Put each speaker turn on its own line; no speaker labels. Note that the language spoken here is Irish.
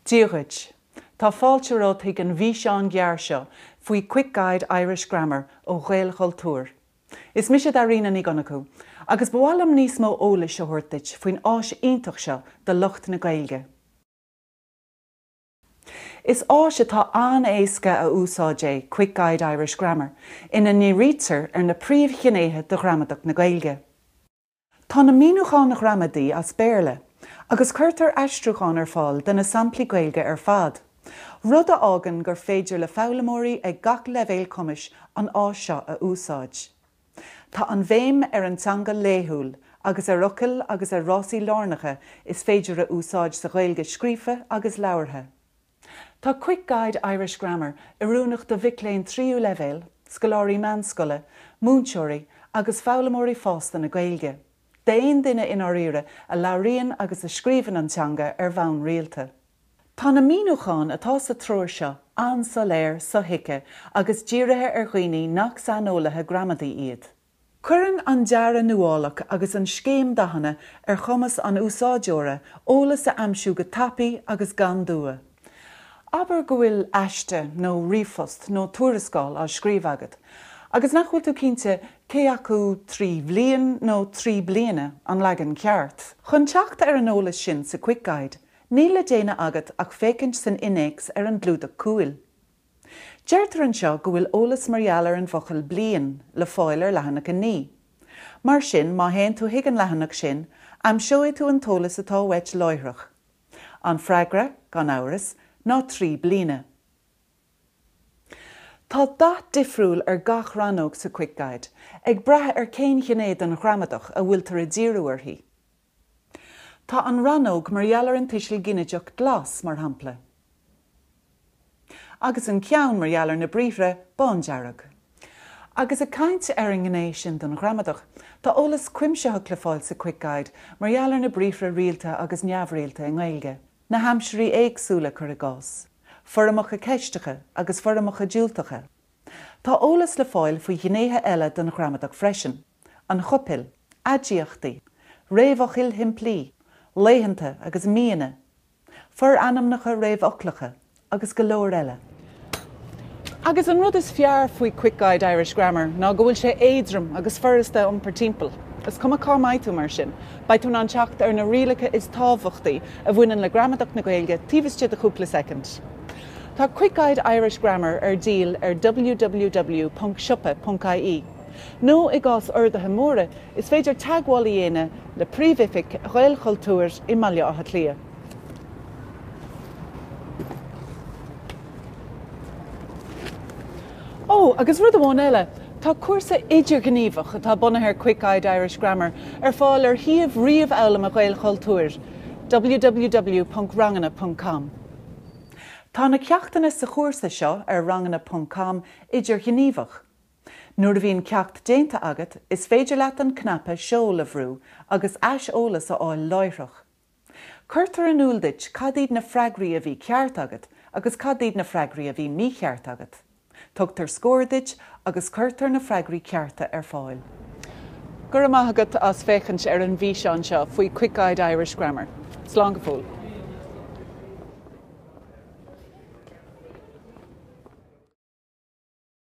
Dia dhuit. Tá fáilte romhat chuig an bhfíseán ghearr seo faoi Quick Guide Irish Grammar ó Ghaelchultúr. Is mise Dairíne Ní Dhonnchú, agus ba mhaith liom níos mó eolais a thabhairt duit faoin áis iontach seo do lucht na Gaeilge. Is áis atá an-éasca a úsáid é Quick Guide Irish Grammar ina ndírítear ar na príomhghnéithe de ghramadach na Gaeilge. Tá na míniúcháin ghramadaí as Béarla agus cuirtear aistriúcháin ar fáil do na samplaí Gaeilge ar fad, rud a fhágann gur féidir le foghlaimeoirí ag gach leibhéal cumais an áis seo a úsáid. Tá an bhéim ar an teanga laethúil agus ar fhocail agus ar fhrásaí lárnacha is féidir a úsáid sa Ghaeilge scríofa agus labhartha. Tá Quick Guide Irish Grammar oiriúnach do mhic léinn tríú leibhéal, scoláirí meánscoile, múinteoirí agus foghlaimeoirí fásta na Gaeilge, d'aon duine i ndáiríre a labhraíonn agus a scríobhann an teanga ar bhonn rialta. Tá na míniúcháin atá sa treoir seo an-soiléir, sothuigthe agus dírithe ar dhaoine nach saineolaithe gramadaí iad. Cuireann an dearadh nuálach agus an scéim dathanna ar chumas an úsáideora eolas a aimsiú go tapaidh agus gan dua. Abair go bhfuil aiste nó ríomhphost nó tuarascáil á scríobh agat agus nach bhfuil tú cinnte cé acu trí bhliain nó trí bliana an leagan ceart. Chun teacht ar an eolas sin sa Quick Guide, Níl le déanamh agat ach féachaint san innéacs ar an gclúdach cúil. Deirtear anseo go bhfuil eolas mar gheall ar an bhfocal 'bliain' le fáil ar leathanach 9. Mar sin, má théann tú chuig an leathanach sin, aimseoidh tú an t-eolas atá uait láithreach. An freagra, gan amhras, ná 'trí bliana'. Tá dath difriúil ar gach rannóg sa QuickGuide, ag brath ar cén ghné den ghramadach a bhfuiltear ag díriú uirthi. Tá an rannóg mar gheall ar an tuiseal ginideach glas, mar shampla, agus an ceann mar gheall ar na briathra bándearg. Agus ag caint ar an ngné sin den ghramadach, tá eolas cuimsitheach le fáil sa Quick Guide mar gheall ar na briathra rialta agus neamhrialta i nGaeilge, na haimsirí éagsúla, cuir i gcás, foirmeacha ceisteacha agus foirmeacha diúltacha. Tá eolas le fáil faoi ghnéithe eile den ghramadach freisin. an chopail, aidiachtaí, réamhfhocail shimplí, laethanta agus míonna, forainmneacha réamhfhoclacha agus go leor eile. Agus an rud is fearr faoi QuickGuide Irish Grammar ná go bhfuil sé éadrom agus furasta a iompar timpeall. Is cuma cá mbeidh tú mar sin, beidh tú in ann teacht ar na rialacha is tábhachtaí a bhaineann le gramadach na Gaeilge taobh istigh de chúpla soicind. Tá QuickGuide Irish Grammar ar díol ar www.siopa.ie. Nó i gcás orduithe móra is féidir teagmháil a dhéanamh le príomhoifig Ghaelchultúir i mBaile Átha Cliath. Ó, agus rud amháin eile, tá cúrsa idirghníomhach atá bunaithe ar QuickGuide Irish Grammar ar fáil ar shuíomh ríomhfhoghlama Ghaelchultúir, www.ranganna.com. Tá na ceachtanna sa chúrsa seo ar ranganna.com idirghníomhach. Nuair a bhíonn ceacht déanta agat, is féidir leat an cnaipe Seol a bhrú agus aiseolas a fháil láithreach. Cuirtear in iúl duit cad iad na freagraí a bhí ceart agat agus cad iad na freagraí a bhí mícheart agat. Tugtar scór duit agus cuirtear na freagraí cearta ar fáil. Go raibh maith agat as féachaint ar an bhfíseán seo faoi QuickGuide Irish Grammar. Slán go fóill!